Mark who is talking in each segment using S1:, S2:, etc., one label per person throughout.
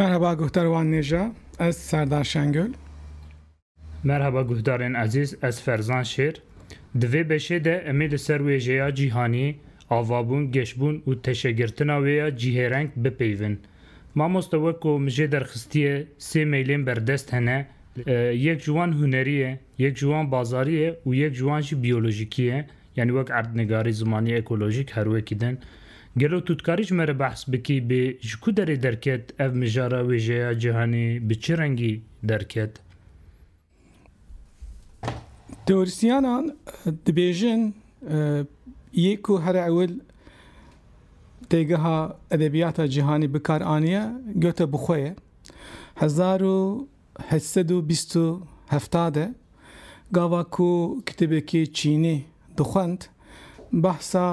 S1: Merheba guhdar wan nêja ez Serdar Şengül. Merheba guhdarên ezîz ez Ferzan Şêr. Di vê beşê de emê li ser wêjeya cîhanî, avabûn, geşbûn û teşegirtina wê ya cîhêreng bipeyvin. Mamoste weko min jê derxistiye sê meylên berdest hene, yek ji wan hunerî ye, yek ji wan bazarî ye û yek ji wan jî biyolojîkî ye, yanî wek erdnigarî, zimanî, ekolojîk her wekî din. Gelo tu dikarî ji me re behs bikî bê ji ku derê derket ev mijara wêjeya cîhanê bi çi rengî derket? Teorîsyenan dibêjin yê ku here ewil têgeha edebiyata cîhanî bikar aniye gote bi xwe ye. Hezar û heşt sed û bîst û hefta de gava ku kitêbekî çînî dixwend behsa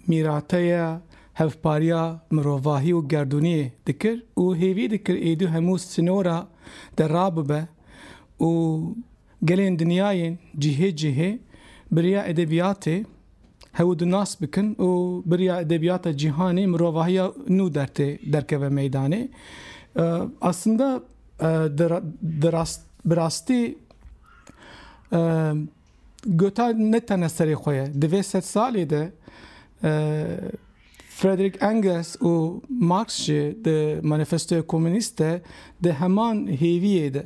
S1: mîrateya hevpariya mirovahî û gerdûniyê dikir û hêvî dikir êdî hemû sînora de rabibe û gelên dinyayên cihê cihê bi riya edebiyatê Hewl di nas bikin û biriya edebiyata cîhanê mirovahiya nû dertê derkeve meydanê. Aslında di rast bi rastî Goethe ne tene serê xwe ye. Di vê sed salê de Frederick Engels û Marx jî di Manifestoya Komûnîst de di heman hêviyê de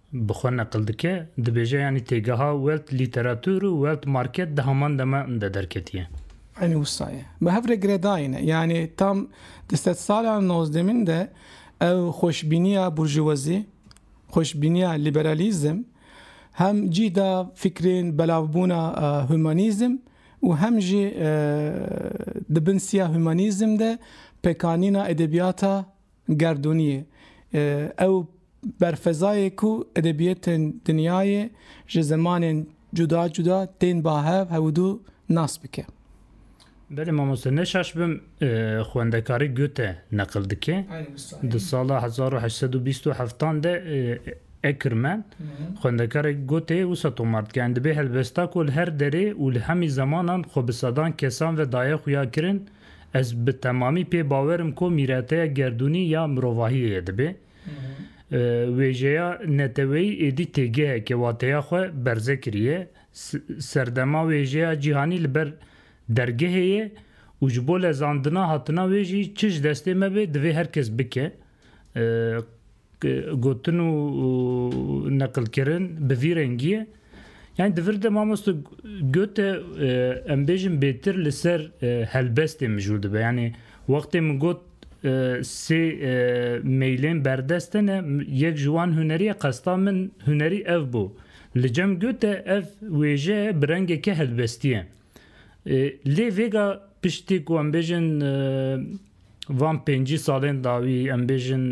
S1: bi xwe neqil dike, dibêje yanî têgeha Welt Lîteratûr û Welt Market di heman dema de derketiye. Eynî wisa ye. Bi hev re giredayîne. Yanî tam di sedsala nozdemîn de ew xweşbîniya burjûwezî, xweşbîniya lîberalîzm hem cîh da fikrên belavbûna humanîzm û hem jî di bin siya humanîzm de pekanîna edebiyata Gerdûniyê. Ew berfezayê ku edebiyatên dinyayê ji zimanên cuda cuda tên ba hev hewdû nas bike. Belê mamoste ne şaş bim xwendekarî Goethe neqil dike. Di sala hezar û heşt sed û bîst û heftan de Eckermann xwendekarê Goetheyê wisa tomar dike, Em dibê helbesta ku li her derê û li hemî zemanan xwe bi sedan kesan ve daye xuya kirin, Ez bi temamî pê bawer im ku mîreteya gerdûnî ya mirovahiyê yê dibê wêjeya neteweyî êdî têgeheke wateya xwe berze kiriye. Serdema wêjeya cîhanî li ber dergehê ye û ji bo lezandina hatina wê jî çi ji destê me bê divê her kes bike. Gotin û neqilkirin bi vî rengiyê yanî di vir de mamoste Goethe em bêjin bêtir li ser helbestê mijûl dibe. Yanî wextê min got sê meylên berdest e ne yek ji wan hunerî ye qesta min hunerî ev bû. Li cem Goethe ev wêje bi rengeke helbestî ye. Lê vêga piştî ku em bêjin van pêncî salên dawî em bêjin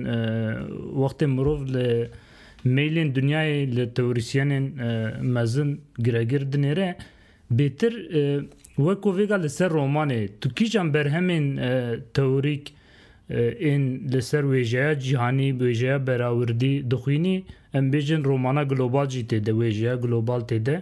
S1: wextê mirov li meylên dinyayê li teorîsyenên mezin giregir dinêre bêtir weko vêga li ser romanê tu kîjan berhemên teorîk ên li ser wêjeya cîhanî wêjeya berawirdî dixwînî em bêjin romana global jî têde wêjeya global têde.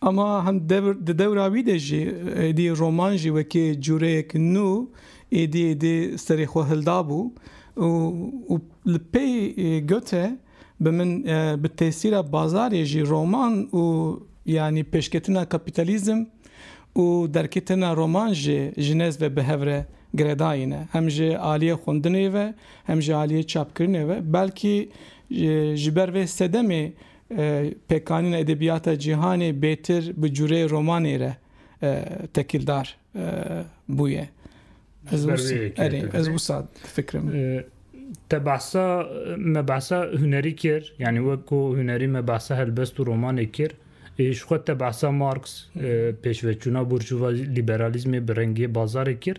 S1: Ama hem dewr di dewra wî de jî êdî roman jî wekî cureyek nû êdî êdî serê xwe hildabû û û li pey Goethe bi min bi tesîra bazarê jî roman û yanî pêşketina kapîtalîzm û derketina roman jî ji nêz ve bi hev re giredayîne hem ji aliyê xwendinê ve hem ji aliyê çapkirinê ve belkî ji ber vê sedemê Pêkanîna edebiyata cîhanê bêtir bi cureyê romanê re tekîldar bûye. Ez ber wê yekê Erê, ez dibî. wisa difikirim. Te behsa me behsa hunerî kir, yanî wek ku hunerî me behsa helbest û romanê kir. Ê, Ji xwe te behsa Marx, e, pêşveçûna burjuva lîberalîzmê bi rengê bazarê kir.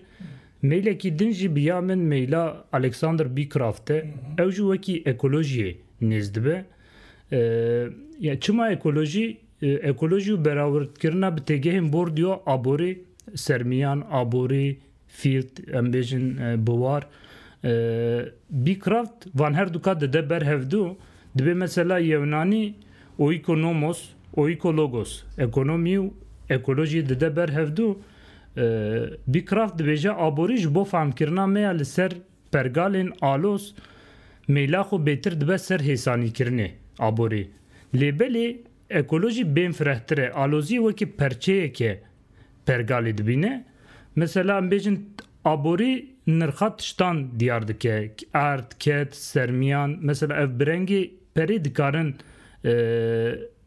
S1: Meylekî din jî bi ya min meyla Alexander Bickraft e. Ew jî wekî ekolojiyê nêz dibe. Ya çima ekolojî, ekolojî û berawirdkirina bi têgehên bordûya aborî, sermiyan, aborî, field, em bêjin biwar, Beecraft van her duka dide ber hevdû, dibê mesela yewnanî oîkonomos, oîkologos, ekonomî û ekolojî dide ber hevdû, Beecraft dibêje aborî ji bo fehmkirina me ya li ser Pergalên alos mêla xwe bêtir dibe ser hêsanîkirinê aborê. Lê belê ekolojî bên firehtir e, aloziyê wekî perçeyeke pergalê dibîne. Mesela em bêjin aborî nirxa tiştan diyar dike, erd, ket, sermiyan. Mesela ev bi rengê. Perê dikarin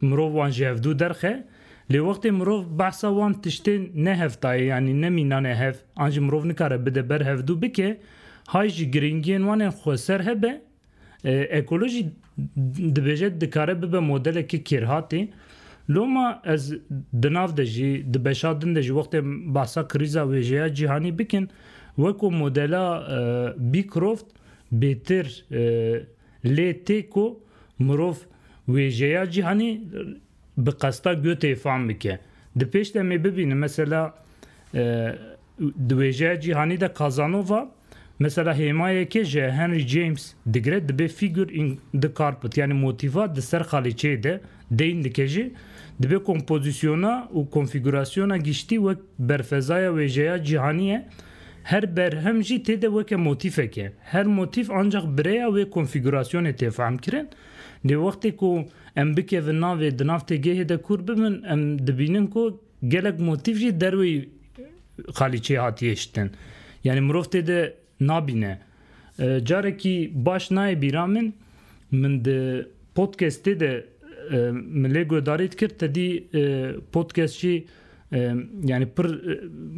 S1: mirov wan ji hevdu derxe, lê wextê mirov behsa wan tiştên ne hevtayê yanî ne mînanê hev an jî mirov nikare bide ber hevdu bike, hay jî girîngiyên wan ên xwe ser hebe. Ekolojî dibêje dikare bibe modeleke kêrhatê. Loma ez di nav de jî, di beşa din de jî wextê behsa krîza wêjeya cîhanî bikin, weko modela Bîkroft bêtir Lê tê ku mirov wêjeya cîhanî bi qesta Goethe-yê fam bike. Di pêş de em ê bibînin mesela di wêjeya cîhanî de Casanova mesela hêmayeke ji Henry James digire dibe figure in the carpet yanî motîfa di ser xalîçeyê de deyn dike jî dibe kompozisyona û konfîgurasyona giştî wek berfezaya wêjeya cîhanî ye Her berhem jî tê de weke motîfek e. Her motîf ancax bi rêya wê konfîgurasyonê tê fehmkirin. Lê wextê ku em bikevin navê di nav têgehê de kûr bibin em dibînin ku gelek motîf jî derweyî qalîçeyê hatiye şitin. Yanî mirov tê de nabîne. Carekî baş nayê bîra min, min di podcastê de min lê guhdarî dikir tedî podcast jî yanî pir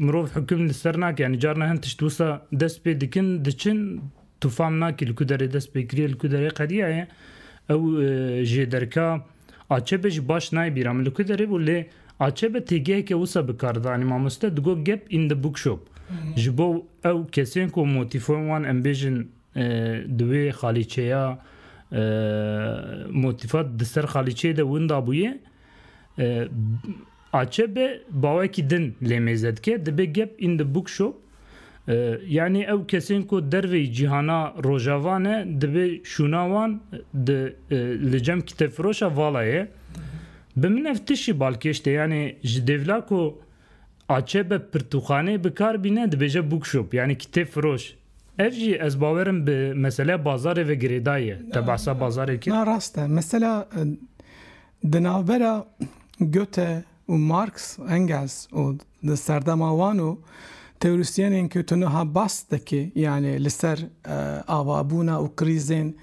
S1: mirov hukm li ser nake yanî carna hin tişt wisa dest pê dikin diçin tu fam nakî li ku derê dest pê kiriye li ku derê qediyaye ew jê derka Acebi jî baş nayê bîra min li ku derê bû lê Acebi têgeheke wisa bi kar didanê. Mamoste digot gap in the bookshop. Ji bo ew kesên ku motîfoyên wan em bêjin di wê xalîçeya motîfa di ser xalîçeyê de winda bûye, Acp bawekî din lê mêze dike dibe gep in the book shop yanî ew kesên ku derveyî cîhana rojava ne dibe şûna wan di li cem kitêbfiroşa vala ye. Bi min ev tişî balkêş tê yanî ji dêvla ku acp pirtûkxaneyê bi kar bîne dibêje book shop yanî kitêbfiroş. Ev jî ez bawer im bi meseleya bazarê ve girêdayî ye. Te behsa bazarê kir? Na rast e. Mesela Di navbera Goethe û Marx, Engels û di serdema wan û teorîsyenên ku tu niha bas dikî yanê li ser avabûna û krîzên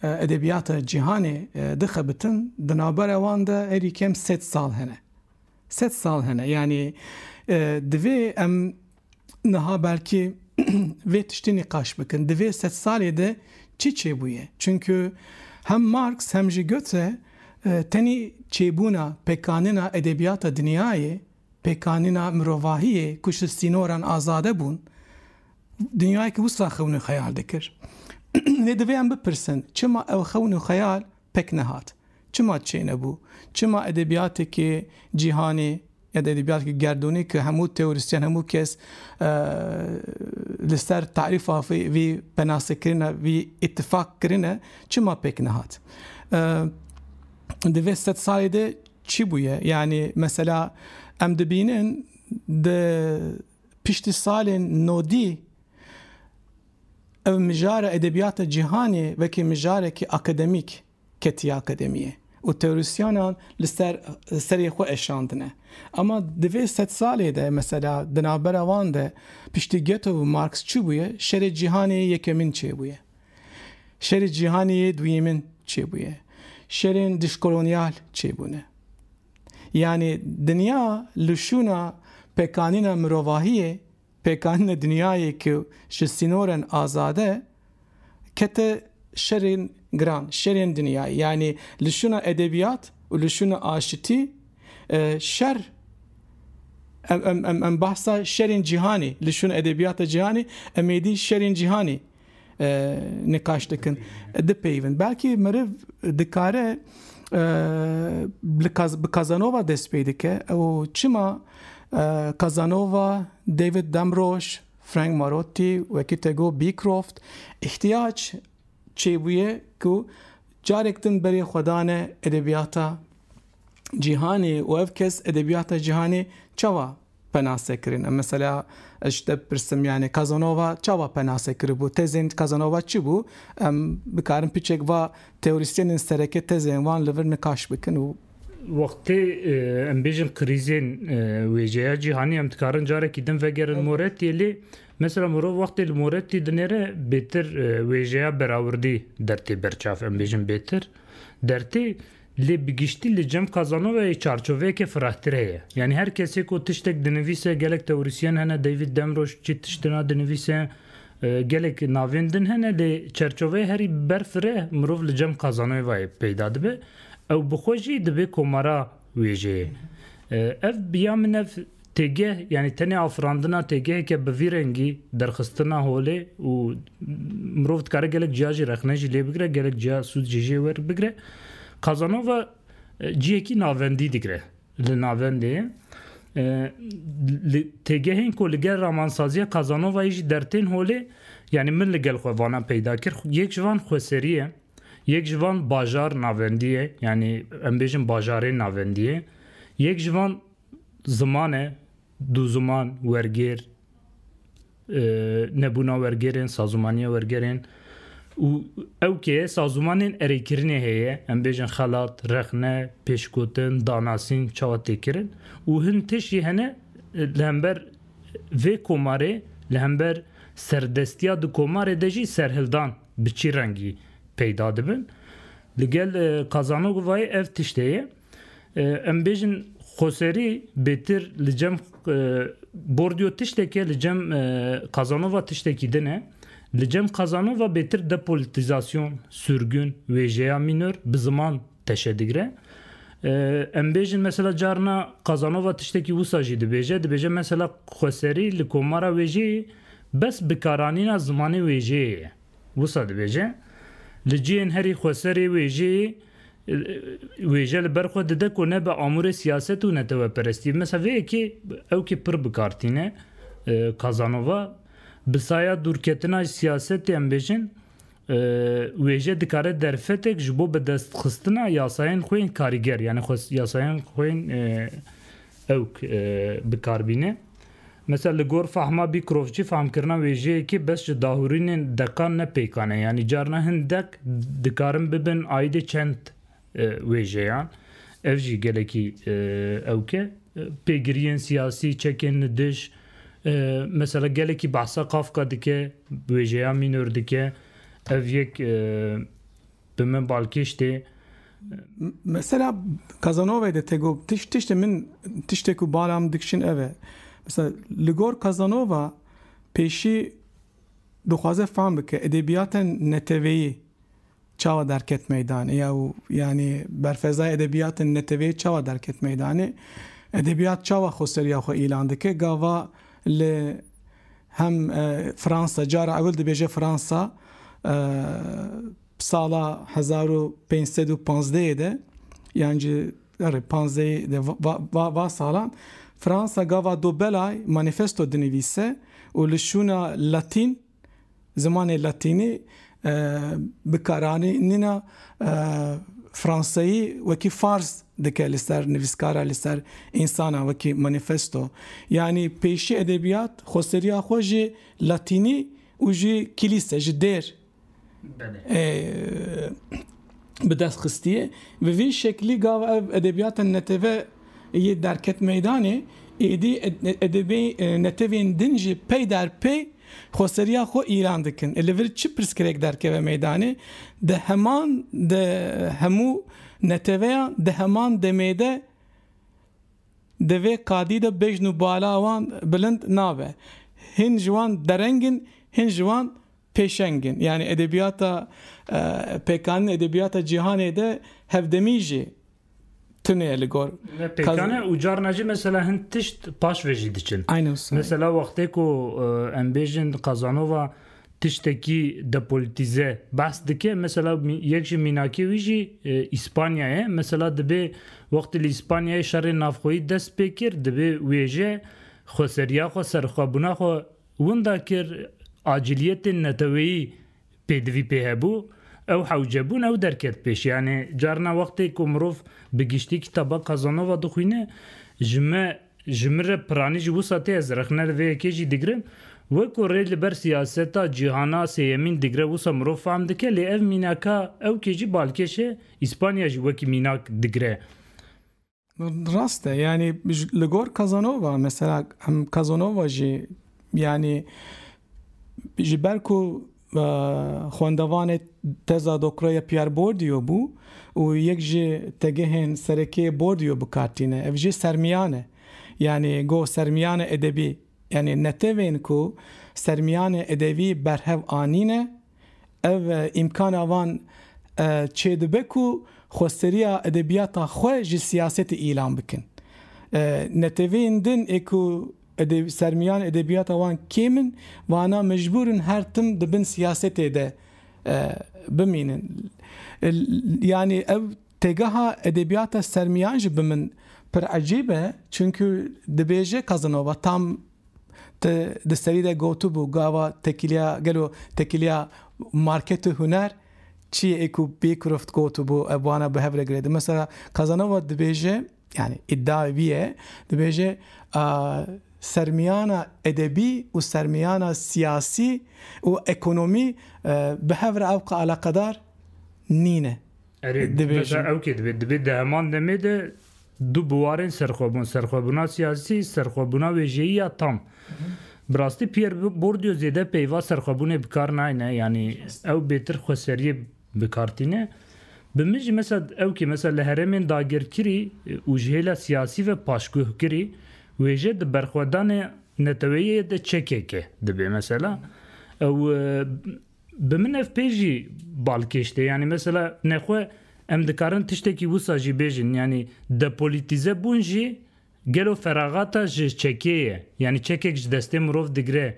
S1: edebiyata cîhanê dixebitin, di navbera wan de herî kem sed sal hene. Sed sal hene. Yanî divê em niha belkî vê tiştî nîqaş bikin. Di vê sed salê de çi çêbûye? Çimkû hem Marx hem jî Goethe tenê çêbûna, pekanîna edebiyata dinyayê, pekanîna mirovahiyê ku ji sînoran azade bûn, dinyayekî wisa xewn û xeyal dikir. Lê divê em bipirsin, çima ew xewn û xeyal pek nehat. Çima çênebû? Çima edebiyateke cîhanê ya da edebiyateke gerdûnê ke hemû teorîsyen, hemû kes li ser tarîfa vî penasekirina vî îtîfak kirine çima pek nehat? Di vê sed salê de çi bûye? Yanî mesela em dibînin di piştî salên nodî ev mijara edebiyata cîhanê wekî mijarekî akademîk ketiye akademiyê û teorisyanan li ser serê xwe eşandine. Ema di vê sed salê de mesela di navbera wan de piştî Goethe û Marx çi bûye? Şerê cîhanê yekemîn çêbûye. Şerê cîhanê yê duyêmin çêbûye. Şerên dijkolonyal çêbûne. Yanî dinya li şûna pêkanîna mirovahiyê, pêkanîna dinyayê ku ji sînoren azad e, kete şerên giran, şerên dinyayê. Yanî li şûna edebiyat û li şûna aşitî şer, em em em em behsa şerên cîhanê, li şûna edebiyata cîhanê em ê dî şerên cîhanê. Nîqaş dikin, dipeyivin. Belkî meriv dikare bi Kazanova dest pê dike û çima Kazanova, David Damrosch, Frank Marotti wekî te got Beecroft îhtiyac çêbûye ku carek din berê xwe dane edebiyata cîhanê û ev kes edebiyata cîhanê çawa penase kirin. Em mesela ez ji te bipirsim yanî Kazanova çawa penase kiribû? Tezên Kazanova çi bû? Em bikarin piçek va teorîsyenên sereke tezên wan li vir nikaş bikin û. Wextê em bêjin krîzên wêjeya cîhanî em dikarin carekî din vegerin Morettî'ê lê mesela mirov wextê li Morettî dinêre bêtir wêjeya berawirdî der tê berçav em bêjin bêtir der tê. Lê bi giştî li Cem Kazanovayê çarçoveyeke firehtir heye. Yanî her kesê ku tiştek dinivîse gelek tewrîsyen hene David Demroj çi tiştina dinivîse gelek navên din hene lê çerçoveyê herî ber fireh mirov li Cem Kazanoyvayê peyda dibe. Ew bi xwe jî dibê komara wêjeyê. Ev bi ya min ev Têgeh yanî tenê afirandina têgeheke bi vî rengî, derxistina holê û mirov dikare gelek ciya jî rexne jî lê bigire, gelek ciya sûd jî jê wer bigire. Kazanova ciyekî navendî digire li navendê ye. Li têgehên ku li gel ramansaziya Kazanovayê jî dertên holê yanî min li gel xwe vanan peyda kir. Yek ji van Xweserî ye, yek ji van bajar navendî ye yanî em bêjin bajarên navendî ye, yek ji van Ziman e, du ziman, wergêr, nebûna wergêrên, sazûmaniya wergerên û ew kê sazûmanên erêkirinê heye, em bêjin xelat, rexne, pêşgotin, danasîn çawa tê kirin û hin tişt jî hene li hember vê komarê, li hember serdestiya di komarê de jî serhildan bi çi rengî peyda dibin. Li gel Kazanogovayê ev tişt heye. Em bêjin Xoserî bêtir li cem Bordiyo tişteke li cem Kazanova tiştekî din e. Li cem Kazanova bêtir depolitîzasyon, surgun, wêjeya mînor bi ziman teşe digire. Em bêjin mesela carna Kazanova tiştekî wisa jî dibêje, dibêje mesela Xoserî li komara wêjeyê bes bikaranîna zimanê wêjeyê ye. Wisa dibêje, Li cihên herî xweserê wêjeyê wêje li ber xwe dide ku nebe amûrê siyaset û neteweperestî. Mesela vê yekê ew kê pir bi kar tîne Casanova bi saya dûrketina ji siyasetê em bêjin wêje dikare derfetek ji bo bidestxistina yasayên xwe yên karîger yanî yasayên xwe yên ew bikarbîne. Mesela li gor fehma bîkrovçî fehmkirina wêjeyekê bes ji dahurînên deqan ne pêkan e yanî carna hin deq dikarin bibin aîdê çend wêjeyan. Ev jî gelekî ewk e. Pêgiriyên siyasî, çekên li dij mesela gelekî behsa Kafka dike, wêjeya mînor dike. Ev yek Bi min balkêş tê. Mesela Kazanove de tego tiş tişte min tişte ku bala min dikişin ev e. Mesela li gor Kazanova pêşî dixwaze fam bike edebiyaten neteveyî çawa derket meydanê ya û yanî berfezaya edebiyaten neteveyî çawa derket meydanê. Edebiyat çawa xwe seriya xwe îlan dike gava li Hem Fransa, cara ewil dibêje Fransa sala hezar û pênc sed û panzdehê de yan jî erê panzdehê de va va salan Fransa gava do belay manîfesto dinivîse û li şûna Latîn Zimanê Latînî bikaranîna Franseyî wekî Fars dike li ser nivîskara li ser însanan wekî manîfesto. Yanî pêşî edebîyat xweseriya xwe ji Latînî û ji Kîlîse, ji dêr, ê bi dest xistiye. Bi vî şeklî gava ev edebiyata neteve yê derket meydanê, êdî edebê netevên din jî peyder pey xweseriya xwe îlan dikin. Li vir çi pirsgirêk derkeve meydanê, di heman de hemû neteveyan di heman demê de di vê qadî de bejn û bala wan bilind nabe. Hin ji wan dereng in, hin ji wan pêşeng in. Yanî edebiyata pêkanîn edebiyata cîhanê de hevdemî jî tune ye li gor. Ne pêkan e û carna jî mesela hin tişt paş ve jî diçin. Aynen wisa. Mesela wextê ku em bêjin Kazanova tiştekî depolitîze behs dike mesela yek ji mînakê wî jî Îspanya ye. Mesela dibê wextê li Îspanyayê şerê navxweyî dest pê kir dibê wêje xweseriya xwe serxwebûna xwe Winda kir acîliyetên neteweyî pêdivî pê hebû, ew hewce bûn, ew derket pêş. Yanî carina wextê ku mirov bi giştî kitaba Kazanova dixwîne, ji me, ji min re piranî ji wisa tê, ez rexne li vê yekê jî digirim. Weko rê li ber siyaseta cîhana sêyemîn digre wisa mirov fehm dike, lê ev mînaka ewkê jî balkêş e, Îspanya jî wekî mînak digre. Rast e yanî li gor Kazanova mesela em Kazanova jî yanî ji ber ku xwendevanê teza doktoraya Pierre Bourdieu bû û yek ji tegehên serekê Bourdieu bi kar tîne. Ev jî sermiyan e. Yanî goh sermiyana edebî yanî netewên ku sermiyanê edebî berhev anîne Ev îmkana wan çê dibe ku xwesteriya edebiyata xwe ji siyasetê îlan bikin. Neteweyên din ê ku sermiyan edebiyata wan kêm in, wana mecbûr in her tim di bin siyasetê de bimînin. Yanî ev têgeha edebiyata sermiyan ji bin min pir ecêb e, çunku dibêje Casanova tam, Te di serî de gotibû gava tekîliya gelo tekîliya market û huner çi ye ê ku Beecroft gotibû ev wana bi hev re girêdin. Mesela Casanova dibêje yanî îdiayê wî ye dibêje sermiyana edebî û sermiyana siyasî û ekonomî bi hev re ewqe eleqedar nîne. Erê, dibêje. Ew kê dibê? Dibê di heman demê de Du buwarên serxwebûn, serxwebûna siyasî, serxwebûna wêjeyî ya tam. Bi rastî Pierre Bourdieu zêde peyva serxwebûnê bi kar nayne, yanî ew bêtir xweseriyê bi kar tîne. Bi min jî mesela ew kê mesela li herêmên dagirkirî û ji hêla siyasî ve paşguhkirî wêje di berxwedanê neteweyê de çekeke dibê mesela. Ew Bi min ev pê jî bal kêştê. Yanî mesela nexwe em dikarin tiştekî wisa jî bêjin. Yanî depolitîze bûn jî gelo feraxata ji çekê ye. Yanî çekek ji destê mirov digire.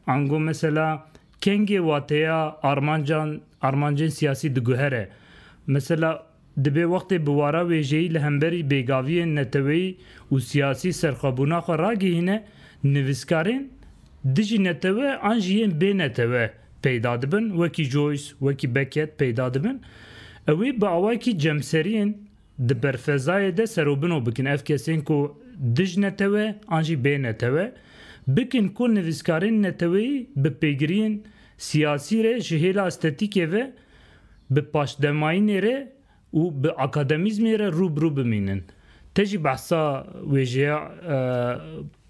S1: Ango mesela kengê wateya armancan armancên siyasî diguhere. Mesela Dibe wextê bi wara wêjeyî li hemberî bêgaviyên neteweyî û siyasî serxwebûna xwe ragihîne, nivîskarên dijî netewe an jî yên bê netewe peyda dibin, wekî Joyce, wekî Beckett peyda dibin. Ew ê bi awayekî cemseriyên di berfezayê de serobino bikin ev kesên ku dij netewe an jî bê netewe bikin ku nivîskarên neteweyî bi pêgiriyên siyasî re ji hêla estetîkê ve bi paşdemayînê re û bi akademîzmê re rû bi rû bimînin. Te jî behsa wêjeya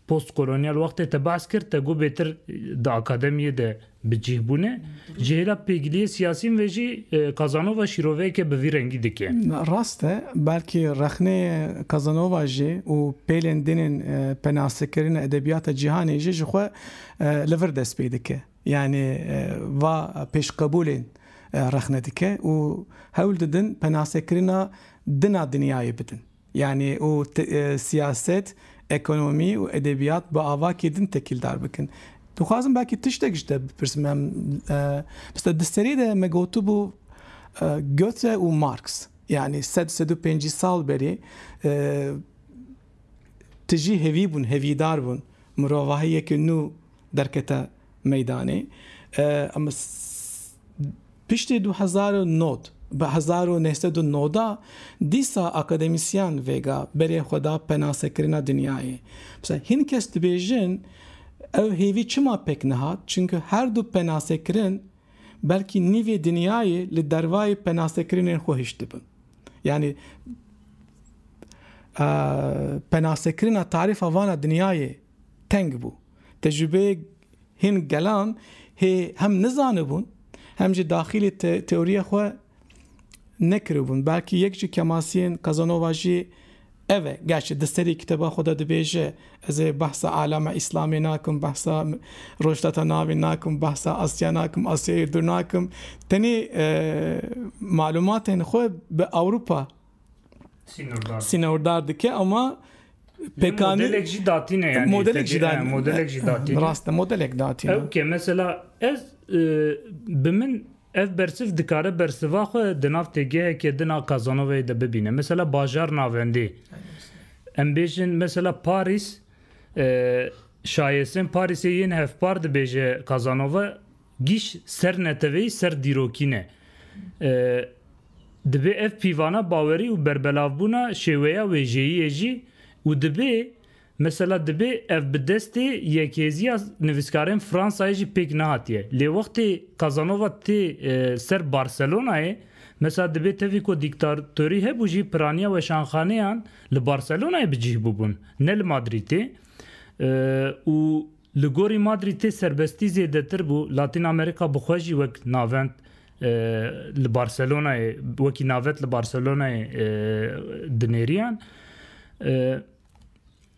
S1: postkolonyal wextê te behs kir, te got bêtir di akademiyê de bi cîh bûne. Ji hêla pêgiliyê siyasîn ve jî Kazanova şîroveyeke bi vî rengî dike. Rast e, belkî rexneyê Kazanova jî û pêlên din ên penasekirina edebiyata cîhanê jî ji xwe li vir dest pê dike. Yanî va pêşqebûlên rexne dike û hewl didin penasekirina din a dinyayê bidin. Yanî û siyaset, ekonomî û edebiyat bi avakî din tekîldar bikin. Dixwazim belkî tiştek ji te bipirsim em bi te di serî de me gotibû Goethe û Marx yanî sed sed û pêncî sal berî tijî hêvî bûn, hêvîdar bûn, mirovahiyeke nû derkete meydanê. Em piştî du hezar û nod bi hezar û neh sed û noda dîsa akademisyen vêga berê xwe da penasekirina dinyayê. Mesela hîn kes dibêjin ew hêvî çima pêk nehat? Çimkî her du penasekirin, belkî nîvê dinyayê li dervayê penasekirinên xwe hiştibin. Yanî penasekirina tarîfa vana dinyayê teng bû. Tecrübeyê hin gelan hê hem nizanibûn hem jî daxilê teoriya xwe nekiribûn. Belkî yek ji kemasiyên Casanova jî ev e. Gerçi di serî kitêba xwe de dibêje, Ez ê behsa alama îslamê nakim, behsa rojhilata navê nakim, behsa Asya nakim, Asyayê dûr nakim. Tenê malûmatên xwe bi Ewropa sînordar dike ama pêkanî. Modelek jî datîne yani. Modelek jî datîne. Modelek jî datîne. Rast e, modelek datîne. Ew ke mesela ez bi min Ev bersiv dikare bersiva xwe di nav têgeheke din a Casanova'yê de bibîne. Mesela bajar navendê. Em bêjin mesela Parîs, şayesên Parîsê yên hevpar dibêje Casanova, gîş ser neteweyî, ser dîrokî ne. Dibê ev pîvana bawerî û berbelavbûna şêweya wêjeyiyê jî û dibê Mesela dibê ev bi destê Yekhêziya Nivîskarên Fransayê jî pêk nehatiye. Lê wextê Casanova tê ser Barcelonayê, mesela dibê tevî ku dîktatorî hebû jî piraniya weşanxaneyan li Barcelonayê bi cih bûbûn, ne li Madrîtê. Û li gorî Madrîtê serbestî zêdetir bû. Latîn Amerîka bi xwe jî wek navend li Barcelonayê, wekî navet li Barcelonayê dinêriyan.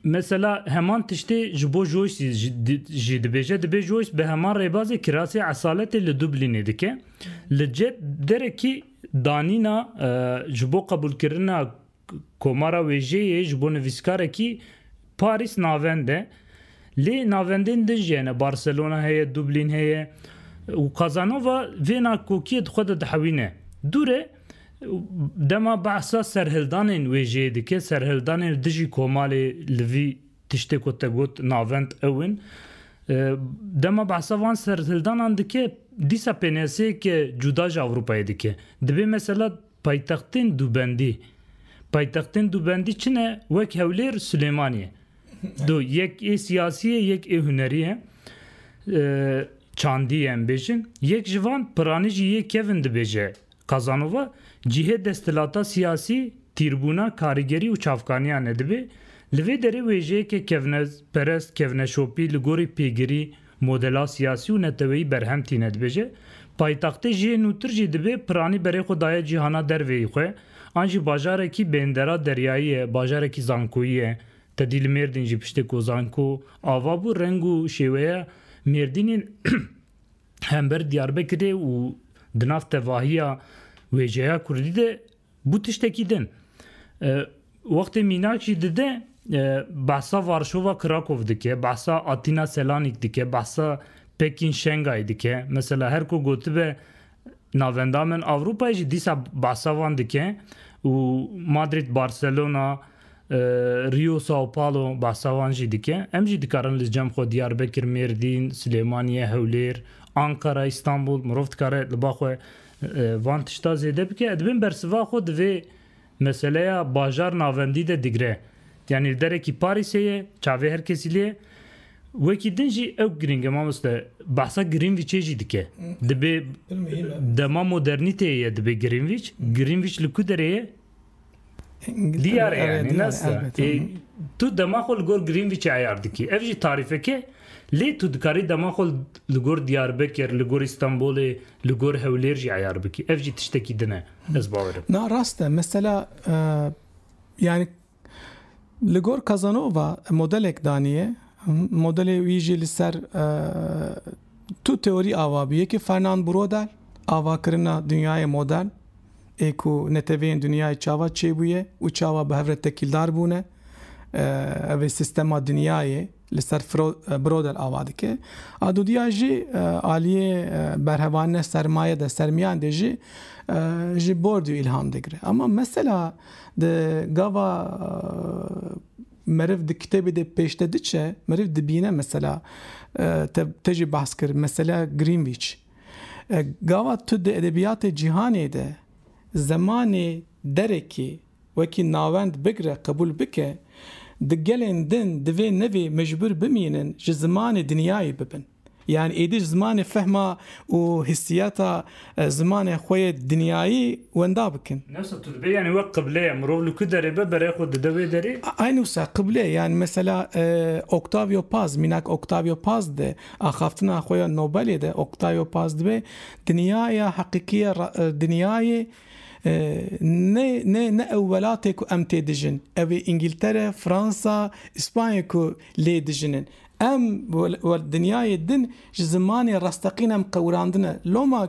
S1: Mesela heman tiştê ji bo Joyce jî dibêje, dibê Joyce bi heman rêbazê kirasê esaletê li Dublînê dike. Li ced derekî danîna ji bo qebûlkirina komara wêjeyê ji bo nivîskarekî Parîs navend e. Lê navendên din jî hene, Barcelona heye, Dublîn heye û Casanova vêna kokiyê di xwe de dihewîne. Dûre. Dema behsa serhildanên wê jê dike, serhildanên dijî komalê li vî tiştê ku te got navend ew in. Dema behsa van serhildanan dike, dîsa pênaseyeke cuda ji Ewropayê dike. Dibê mesela paytextên dubendî. Paytextên dubendî çi ne? Wek Hewlêr, Silêmanî ye. Do yek ê siyasî ye, yek ê hunerî ye. Çandî ye em bêjin. Yek ji van piranî jî yê kevin dibêje Kazanova cihê desthilata siyasî, tîrbûna, karîgerî û çavkaniya nedibê, li vê derê wêjeyeke kevneperest, kevneşopî, li gorî pêgirî, modela siyasî û neteweyî berhem tîne dibêje, paytextê jiyê nûtir jî dibê piranî berê xwe daye cîhana derveyî xwe, an jî bajarekî bêndera deryayî ye, bajarekî zankoyî ye, tedî li Mêrdîn jî piştê ku zanko ava bû reng û şêweya Mêrdînê hember Diyarbekirê û di nav tevahiya wêjeya Kurdî de bû tiştekî din. Wextê mînak jî dide behsa Varşova Krakow dike, behsa Atîna Selanîk dike, behsa Pekîn Şengay dike. Mesela her ku gotibe Navenda min Ewropayê jî dîsa behsa wan dike û Madrid, Barcelona, Rio, Sao Paulo behsa wan jî dike. Em jî dikarin li cem xwe Diyarbekir, Mêrdîn, Silêmaniye, Hewlêr, Ankara, Îstanbul mirov dikare li ba xwe van tişta zêde bike. Dibên bersiva xwe di vê Meseleya bajar navendî de digre. Yanî li derekî Parîsê ye, çavê her kesî lê ye. Wekî din jî ew girîng e mamoste. Behsa Grînvîçê jî dike. Dibê dema modernîteyê ye dibê Grînvîç. Grînvîç li ku derê ye? Diyar e yanî ne sta. Ê tu dema xwe li gor Grînvîçê eyar dikî. Ev jî tarîfek e. Lê tu dikarî dema xwe li gor Diyarbekir, li gor Îstanbulê, li gor Hewlêr jî eyar bikî. Ev jî tiştekî din e. Ez bawer dikim. Na rast e. Mesela yani li gor Casanova modelek daniye modelê wî jî li ser tu teorî ava bû. Yekê Fernand Brodel avakirina dinyayê modern ê ku neteweyên dinyayê çawa çêbûye û çawa bi hev re tekîldar bûne. Ev ê sistema dinyayê Li ser Brodel ava dike. Adudiya jî aliyê berhevanine sermaye de sermiyan de jî ji Bordiyu îlham digire. Ama mesela di gava meriv di kitêbê de pêşde diçe, meriv dibîne mesela te te jî behs kir mesela Greenwich. Gava tu di edebiyatê cîhanê de zemanê derekê, wekî navend bigre qebûl bike, di gelên din divê nevê mecbûr bimînin ji zimanê dinyayê bibin. Yan êdî ji zimanê fehma û hîssiyata zimanê xwe yê dinyayî wenda bikin. Newsa tu dibê yanî wek qible ye, mirov li ku derê be berê xwe dide wê derê? Aynen wisa qible yan mesela Octavio Paz, mînak Octavio Paz di axaftina xwe ya Nobelê de Octavio Paz dibê dinyaya heqîqî ya dinyayê Ne ne ne ew welatê ku em tê dijin. Ew ê Îngîltere, Fransa, Îspanyê ku lê dijin in. Em li dinyayê din ji zimanê rasteqîn em qewirandine. Loma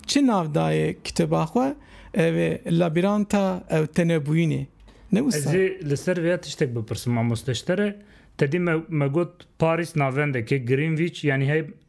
S1: çi nav dayê kitêba xwe? Ew ê Labîranta ew tenebûyînê. Ne wisa? Ez ê li ser vê ya tiştek bipirsim, mamoste ji te re. Te dî me got Parîs navendekê, Greenwich, yanî hey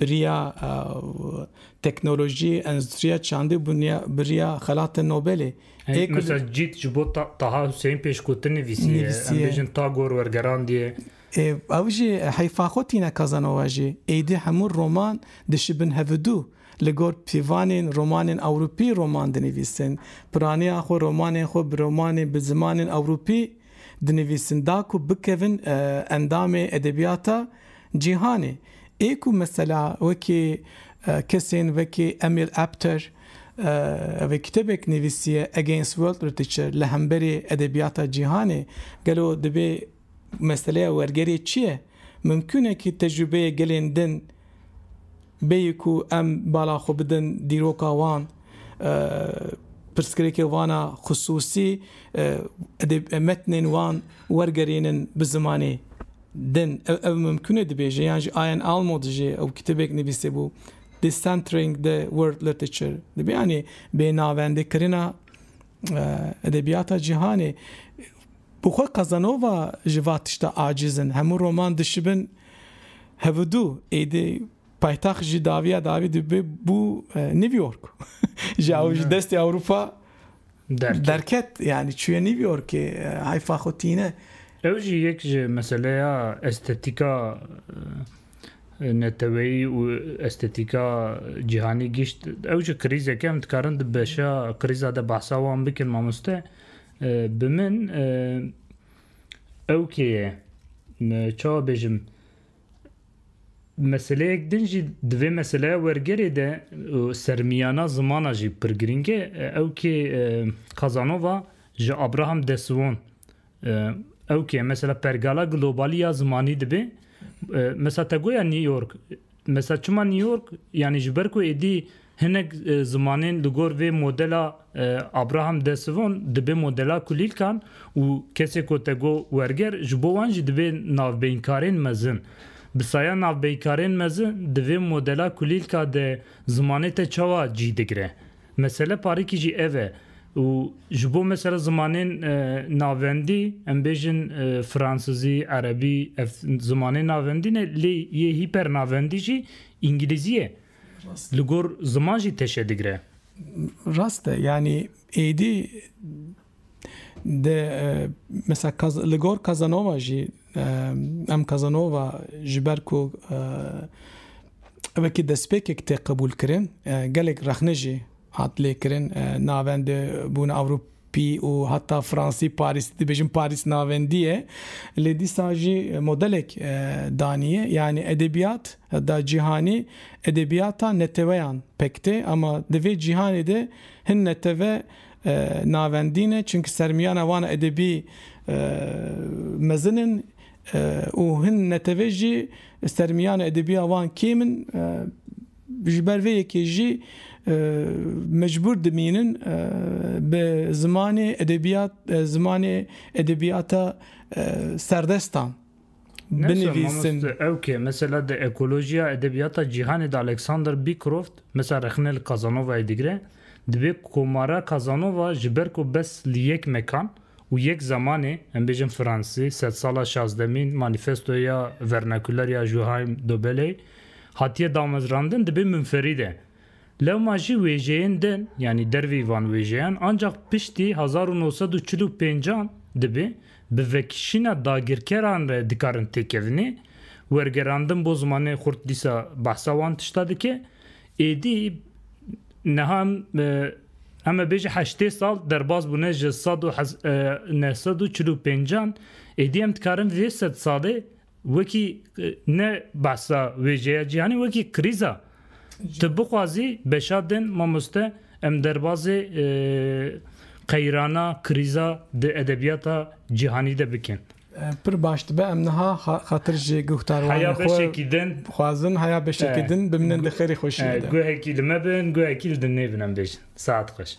S1: Biriya teknolojî, endûstriya çandî û biriya xelata Nobelê. Ê ku li. Cît ji bo Taha Huseyîn pêşgotin nivîsiye. Em bêjin Tagor wergerandiye. Ê ew jî heyfa xwe tîne Casanova jî. Êdî hemû roman dişibin hevidû. Li gor pîvanên romanên ewropî roman dinivîsin. Piraniya xwe romanên xwe bi romanên bi zimanên ewropî Dinivîsin da ku bikevin endamê edebiyata cîhanê. Ê ku mesela wekî kesên wekî Emil Apter ev kitêbek nivîsiye Against World Literature li hemberê edebiyata cîhanê gelo dibê meseleya wergerê çi ye? Mimkûn e ki tecrubeyê gelên din Bêyî ku em bala xwe bidin dîroka wan, pirsgirêkê wan a xisûsî û metnên wan wergerînin bi zimanê din. Ew ev mimkûn e dibêje yan jî Ian Almo dijî ew kitêbek nivîsîbû Decentering the World Literature dibê yanî bênavendekirina edebiyata cîhanê. Bi xwe Casanova ji va tişta aciz in. Hemû roman dişibin hevidû. Êdî paytaxt jî dawiya dawî dibê bû New York. Ji ew ji destê Ewropa derket. Yanî çûye New Yorkê. Heyfa xwe tîne. Ew jî yek ji meseleya estetîka neteweyî û estetîka cîhanî gişt. Ew jî krîzek e. Em dikarin di beşa krîza de behsa wan bikin mamoste. Bi min ew kê ye? Çawa bêjim? Meseleyek din jî di vê meseleya wergerê de û sermiyana zimana jî pir girîng e. Ew kê Kazanova ji Abraham de Suon ew kê ye? Mesela pergala globalî ya zimanî dibe. Mesela te goya New York Mesela çima New York? Yanî ji ber ku êdî hinek zimanên li gor vê modela Abraham de Sivon dibe modela kulîlkan û kesê ku te got werger ji bo wan jî dibe navbeyinkarên mezin. Bi saya navbeyinkarên mezin di vê modela kulîlka de zimanê te çawa cî digire? Mesele parikî jî ev e û ji bo mesela zimanên navendî em bêjin fransizî, erebî ev zimanên navendî ne lê yê hîpernavendî jî îngilîzî ye. Li gor ziman jî teşe digre. Rast e yanî êdî Di mesela li gor Kazanova jî em Kazanova ji ber ku wekî destpêkek tê qebûlkirin gelek rexne jî hat lêkirin navende bûn ewropî û heta fransî parîs dibêjin parîs navendî ye lê dîsa jî modelek daniye yanî edebiyat da cîhanî edebiyata neteweyan pek tê ema di vê cîhanê de hin netewe navendî ne çimkî sermiyana wan edebî mezin in û hin netewê jî sermiyana edebiya wan kêm in ji ber vê yekê jî mecbûr dimînin bi zimanê edebiyat zimanê edebiyata serdestan. binivîsin. Ew ke mesela di ekolojiya edebiyata cîhanê de Alexander Beecroft mesela rexne li Casanovayê digire, dibê komara Casanova ji ber ku bes li yek mekan û yek zemanê, em bêjin fransî, sedsala şazdemîn, manîfestoya vernakuler ya Juhaim Dobeley, hatiye damezrandin dibê munferîd e. Lewma jî wêjeyên din, yanî dervî van wêjeyan ancak piştî hezar û nû sed û çil û pênc an dibê bi vekişîna dagirkeran re dikarin têkevinê. Wergerandin bo zimanê xurt dîsa behsa wan tişta dike. Êdî niha em ê bêje heştê sal derbas bûne ji sed û neh sed û çil û pênc an. Êdî em dikarin vê sed salê Wekî ne behsa wêjeya cîhanê wekî krîza. Ti bixwazî beşa din mamoste em derbazê qeyrana, krîza di edebîyata cîhanî de bikin. Pir baş dibe em niha xatir ji guhdarwanê xwe dixwazin heya beşekî din bimînin di xêrê xweşî de. Guhekî li me bin, guhekî li din nêbin em bêjin. Saet xweş.